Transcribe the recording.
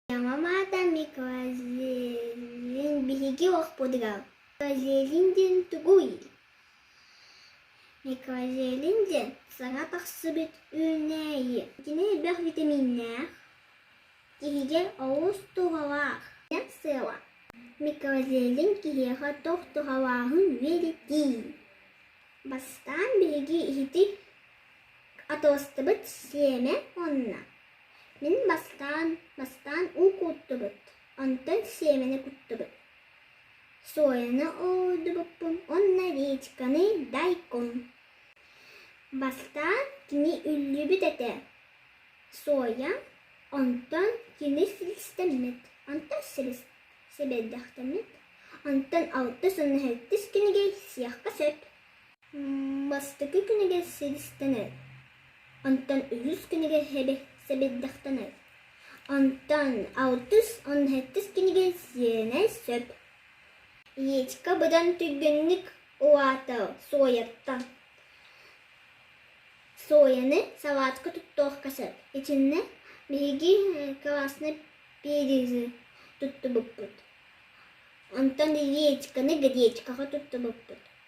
Саҥа маата Микозелин биһиги охпутугар Микозелин диэн тугуй? Микозелин диэн саҥа тахсыбыт үүнээйи. Итини элбэх витаминнаах, киһигэ олус туһалаах. Сыала. Микозелин киһиэхэ тохтуһалааҕын үөрэтии. Бастаан биһиги иһити атастыбыт сиэмэ онно. Мин бастаан бастаан уу кууттубут, онтон сиэмэни куттубут. Сояны уулдубуппун уонна речканы дайкун. Бастаан кини үллүбүт этэ, соя, онтон кини силистэммит, онтон сибэйдэхтэммит, онтон алтыс уонна сэттис кинигэй сиэххэ сөп Бастакы кинигэ сэдистэнэр, онтон үһүс кинигэ сэбирдэхтэнэр, онтон алтыс уонна сэттис кинигэ сиэнэ сөп. Иечка быдан түргэнник угаата Суойаттан. Суойаны салаатка туттуохха сөп. Итиннэ биһиги кылаасны перизы туттубуппут. Онтон Иечканы гадечкаҕа туттубуппут.